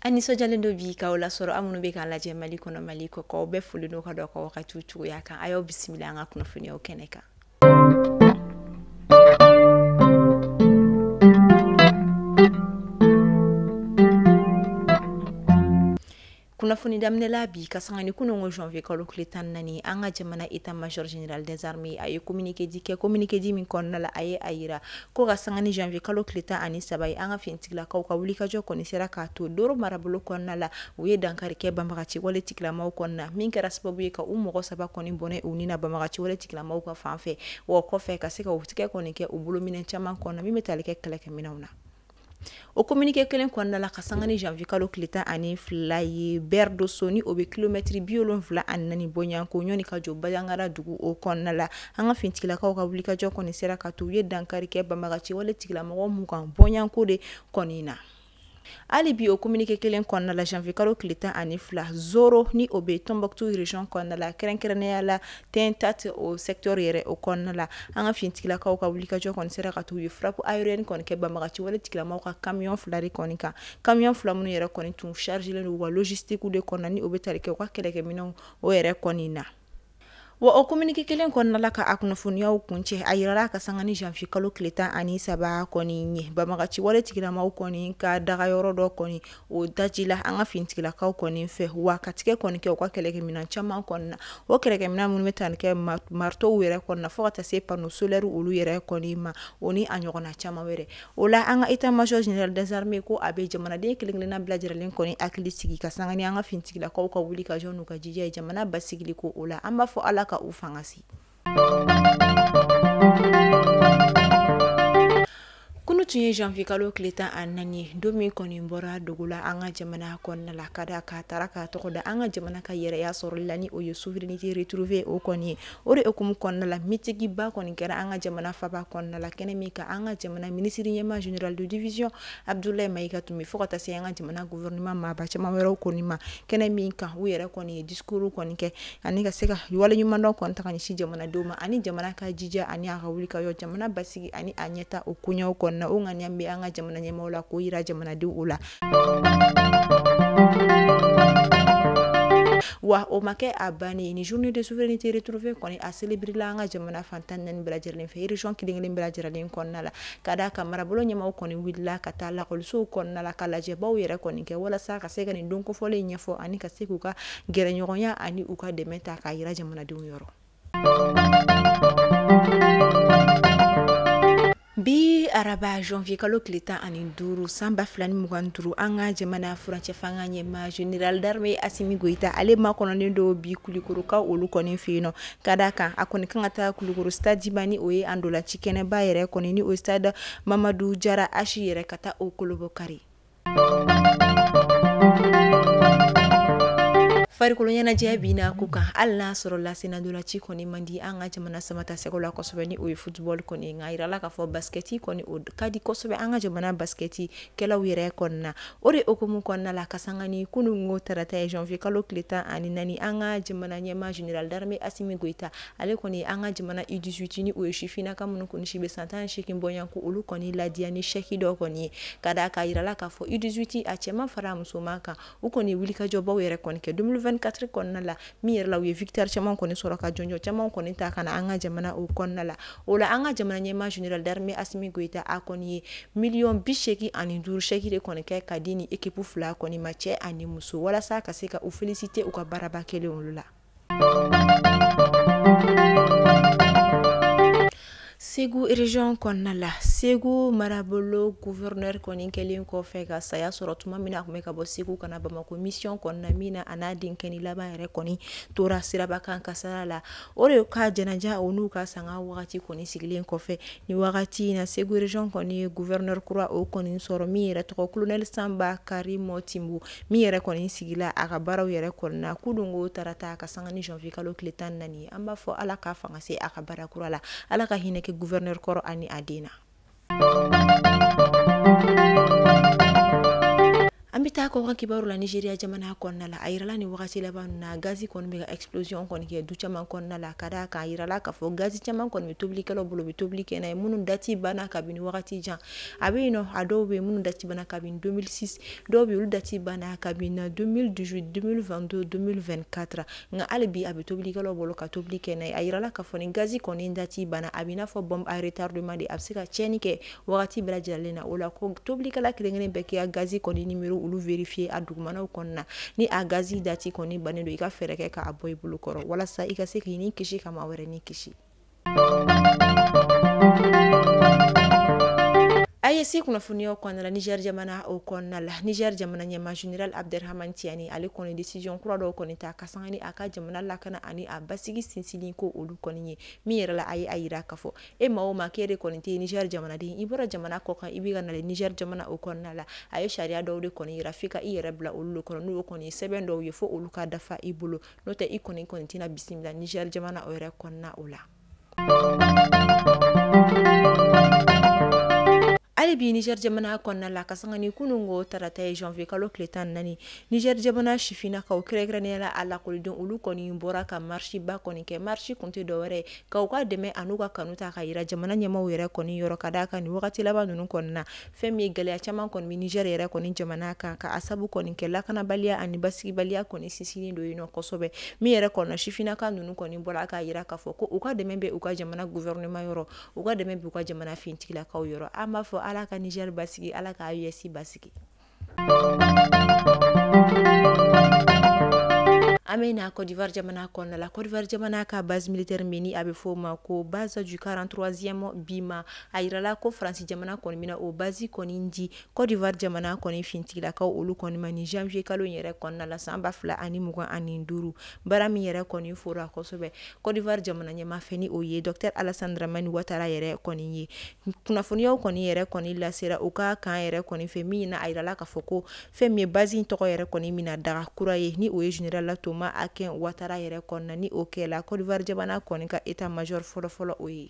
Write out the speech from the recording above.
an nisɔnjalen don bi k'aw lasɔrɔ aw minnu bɛ k'an lajɛ mali kɔnɔ mali kɔkan aw bɛɛ folen don ka d'aw ka wagatiw cogoya kan a y'aw bisimila an ka kunnafoniyaw kɛnɛ kan kunnafoni daminɛla bi ka sanga ni kunun ko janvier kalo tile tan naani an ka jamana état major général des armées a ye communiqué di kɛ communiqué di min kɔnɔna la a ye a yira ko ka sanga ni janvier kalo tile tan ani saba ye an ka finitigilakaw ka wulikajɔ kɔni sera k'a to doro marabolo kɔnɔna la u ye dankari kɛ banbagaci wale tigilamaw kɔnɔna min kɛra sababu ye ka u mɔgɔ saba kɔni bɔnɛ u ni na banbagaci wale tigilamaw ka fan fɛ wa kɔfɛ ka se ka tigɛ kɔni kɛ u bolo minɛn caman kɔnɔna min bɛ tali kɛ kɛlɛkɛminɛnw na o kominike kelen kɔnɔna la ka sanga ni janvier kalo tile tan ani fila ye berdoso ni o bɛ kilomɛtiri bi wolonfila ani naani bɔɲɔgɔnko ɲɔgɔn ni ka jɔ banjagara dugu o kɔnɔna la an ka finitigilakaw ka wulikajɔ kɔni sera k'a to u ye dankari kɛ banbagaci wale tigilamɔgɔ mugan bɔɲɔgɔnko de kɔni na hali bi o kominike kelen kɔnɔna la janvier kalo tile tan ani fila zoro ni o bɛ tombouctou région kɔnɔna la kɛrɛnkɛrɛnnenya la tentat o secteur yɛrɛ o kɔnɔna la an ka finitigilakaw ka wulikajɔ kɔni sera k'a to u ye frappe aérienne kɔni kɛ banbagaci wale tigilamaw ka kamiyɔn fila de kɔni kan kamiyɔn fila minnu yɛrɛ kɔni tun chargelen don wa logistique de kɔnɔ ni o bɛ tali kɛ u ka kɛlɛkɛminɛnw yɛrɛ kɔni na wa o kominike kelen kɔnɔna la ka a kunnafoniyaw kuncɛ a yirala ka sanga ni janvier kalo tile tan ani saba kɔni ye banbagaci wale tigilamaw kɔni ka dagayɔrɔ dɔ kɔni o daji la an ka fintigilakaw kɔni fɛ wa ka tigɛ kɔni kɛ u ka kɛlɛkɛminɛn caman kɔni na o kɛlɛkɛminɛn minnu bɛ tali kɛ maritow yɛrɛ kɔni na fo ka taa se panneau solaire olu yɛrɛ kɔni ma o ni a ɲɔgɔnna caman wɛrɛ o la an ka état major général des armées ko a bɛ jamanaden kelen-kelenna bɛɛ lajɛlen kɔni hakili sigi ka sanga ni an ka fintigilakaw ka wulikajɔ n'u ka jija ye jamana basigili ko o la an b'a fɔ ala ka u fangasi Kunun tun ye janvier kalo tile tan ani naani ye don min kɔni bɔra dogo la an ka jamana kɔnɔna la ka d'a kan a taara k'a tɔgɔ da an ka jamana ka yɛrɛya sɔrɔli la ni o ye souveraineté retrouvée o kɔni ye o de hukumu kɔnɔna la mitigiba kɔni kɛra an ka jamana faba kɔnɔna la kɛnɛ min kan an ka jamana minisiri ɲɛmaa général de division abdoulaye maïga tun bɛ fo ka taa se an ka jamana gouvernement maaba caman wɛrɛw kɔni ma kɛnɛ min kan u yɛrɛ kɔni ye discours kɔni kɛ ani ka se ka waleɲumandɔn kɔni ta ka ɲɛsin jamanadenw ma ani jamana ka jija ani a ka wulikajɔ jamana basigi ani a ɲɛtaa o koɲɛw kɔnɔna o ŋaniya bɛ an ka jamana ɲɛmaaw la k'o yira jamanadenw la wa o ma kɛ a bannen ni journée de souveraineté retrouvée kɔni a célébréla an ka jamana fan tan ni naani bɛɛ lajɛlen fɛ région kelen kelen bɛɛ lajɛlen kɔnɔna la ka d'a kan marabolo ɲɛmaaw kɔni wulila ka taa lakɔlisow kɔnɔna la ka lajɛbaw yɛrɛ kɔni kɛ walasa ka se ka nin don kofɔlen ɲɛfɔ ani ka se k'u ka gɛrɛɲɔgɔnya ani u ka dɛmɛ ta k'a yira jamanadenw yɔrɔ bi araba janvier kalo tile tan ani duuru san ba fila ni mugan ni duuru an ka jamana furancɛ fanga ɲɛmaa general d'armee asimi goyita ale makɔnɔnen don bi kulikoroka olu kɔni fɛ yen nɔ ka d'a kan a kɔni kan ka taa kulikoro stadiba ni o ye an ntolaci kɛnɛba yɛrɛ kɔni ni o stade mamadu jara ashi yɛrɛ ka taa o kolobokari Farikolo ɲɛnajɛ bɛ na ko kan hali n'a sɔrɔla senna ntolaci kɔni man di an ka jamana samatasɛgɛw la kosɛbɛ ni o ye futbali kɔni nka a yirala k'a fɔ baskɛti kɔni o ka di kosɛbɛ an ka jamana baskɛtikɛlaw yɛrɛ kɔnɔna na o de hukumu kɔnɔna la ka sanga ni kunungo tarata ye janvier kalo tile tan ani naani an ka jamana ɲɛmaa general d'armee asimi goyita ale kɔni an ka jamana u dix-huit ni o ye sifin ka minnu kɔni si bɛ san tan seegin bɔ ɲɔgɔn ko olu kɔni ladiya ni sɛki dɔ kɔni ye ka d'a kan a yirala k'a fɔ u dix-huit a cɛman fara musoman kan u kɔni wulikajɔbaw yɛrɛ kɔni kɛ deux mille vingt-quatre kɔnɔna la min yɛrɛ la u ye victoire caman kɔni sɔrɔ ka jɔnjɔn caman kɔni ta ka na an ka jamana o kɔnɔna la o la an ka jamana ɲɛmaa general d'armee asimi goyita a kɔni ye miliyɔn bi seegin ani duuru sɛki de kɔni kɛ ka di ni ekip fila kɔni ma cɛ ani muso walasa ka se ka u féliciter u ka baaraba kɛlen olu la Segu région kɔnɔna la segu marabolo gouverneur kɔni kɛlen kɔfɛ ka saya sɔrɔ tuma min na a tun bɛ ka bɔ segu ka na bamakɔ mission kɔnɔna min na a n'a denkɛnin laban yɛrɛ kɔni tora siraba kan kasara la o de ka janaja o n'u ka sanga wagati kɔni sigilen kɔfɛ ni wagati in na segu région kɔni ye gouverneur kura o kɔni sɔrɔ min yɛrɛ tɔgɔ colonel sanba karimu timbo min yɛrɛ kɔni sigila a ka baaraw yɛrɛ kɔnɔna na kunungo tarata ka sanga ni janvier kalo tile tan naani an b'a fɔ ala ka fanga se a ka baara kura la ala ka hinɛ kɛ gouverneur kɔrɔ ani a den na an bɛ taa kɔkan kibaru la nigeria jamana kɔnɔna la a yirala ni wagati laban na gazi kɔni bɛ ka explosion kɔni kɛ du caman kɔnɔna la ka d'a kan a yirala k'a fɔ gazi caman kɔni bɛ tobilikɛlaw bolo bɛ tobili kɛ n'a ye minnu dati banna kabini wagati jan a bɛ yen nɔ a dɔw bɛ yen minnu dati banna kabini 2006 dɔw bɛ yen olu dati banna kabini 2018 2022 2024 nka hali bi a bɛ tobilikɛlaw bolo ka tobili kɛ n'a ye a yirala k'a fɔ ni gazi kɔni dati banna a bɛ i n'a fɔ bombe à retardement de a bɛ se ka tiɲɛni kɛ wagati bɛɛ lajɛlen na o la ko tobilikɛla kelen-kelen bɛɛ k'i ka gazi kɔni nimero olu vérifier a dugumanaw kɔnɔna na ni a gazi dati kɔni bannen don i ka fɛɛrɛ kɛ k'a bɔ i bolo kɔrɔ walasa i ka se k'i ni kisi ka maa wɛrɛ ni kisi A ye se kunnafoniya kɔnɔna Niger jamana o kɔnɔna la Niger jamana ɲɛmaa général Abderrahmane Tiani ale kɔni décision kura dɔw kɔni ta ka sanga ni a ka jamana lakana ani a basigi sinsinni ko olu kɔni ye min yɛrɛ la a ye a jira ka fɔ e maa o maa kee de kɔni tɛ Niger jamanaden i bɔra jamana kɔkan i bɛ ka na le Niger jamana o kɔnɔna la a ye sariya dɔw de kɔni jira f'i ka i yɛrɛ bila olu kɔnɔ n'o kɔni ye sɛbɛn dɔw ye fo olu ka dafa i bolo n'o tɛ i kɔni kɔni tɛna bisimila niger jamana o yɛrɛ kɔnɔna o la hali bi niger jamana kɔnɔna la ka sanga ni kunun ko tarata ye janvier kalo tile tan naani niger jamana sifinnakaw kɛrɛnkɛrɛnnenya la a lakɔliden olu kɔni bɔra ka marisiba kɔni kɛ marisi kun tɛ dɔwɛrɛ ka u ka dɛmɛ an'u ka kanu ta k'a yira jamana ɲɛmaaw yɛrɛ kɔni yɔrɔ ka d'a kan nin wagati laban ninnu kɔnɔna Fɛn min ye gɛlɛya caman kɔni bɛ Niger yɛrɛ kɔni jamana kan ka a sabu kɔni kɛ lakanabaliya ani basigibaliya kɔni sinsinnen don yen nɔ kosɛbɛ, min yɛrɛ kɔni na sifinnaka ninnu kɔni bɔra k'a jira k'a fɔ ko u ka dɛmɛ bɛ u ka jamana gouvernement yɔrɔ, u ka dɛmɛ bɛ u ka jamana finitigilakaw yɔrɔ, an b'a fɔ Ala ka Niger basigi, Ala ka AES basigi An bɛ na Cote d'Ivoire jamana kɔnɔna la, Cote d'Ivoire jamana ka base militaire min ni a bɛ f'o ma ko base du 43ème BIMA a jirala ko faransi jamana kɔni bɛna o base kɔni di Cote d'Ivoire jamana kɔni finitigilakaw olu kɔni ma nin janvier kalo in yɛrɛ kɔnɔna la san 2025 baara min yɛrɛ kɔni fɔra kosɛbɛ Cote d'Ivoire jamana ɲɛmaa fɛ ni o ye Docteur Alassane Dramane Ouattara yɛrɛ kɔni ye kunnafoniyaw kɔni yɛrɛ kɔni lasera u ka kan yɛrɛ kɔni fɛ min na a jirala k'a fɔ ko fɛn min ye base in tɔgɔ yɛrɛ kɔni mina daga kura ye ni o ye général Thomas d'Aquin Ouattara yɛrɛ kɔnɔna ni o kɛla Cote d'Ivoire jamana kɔni ka état major fɔlɔfɔlɔ o ye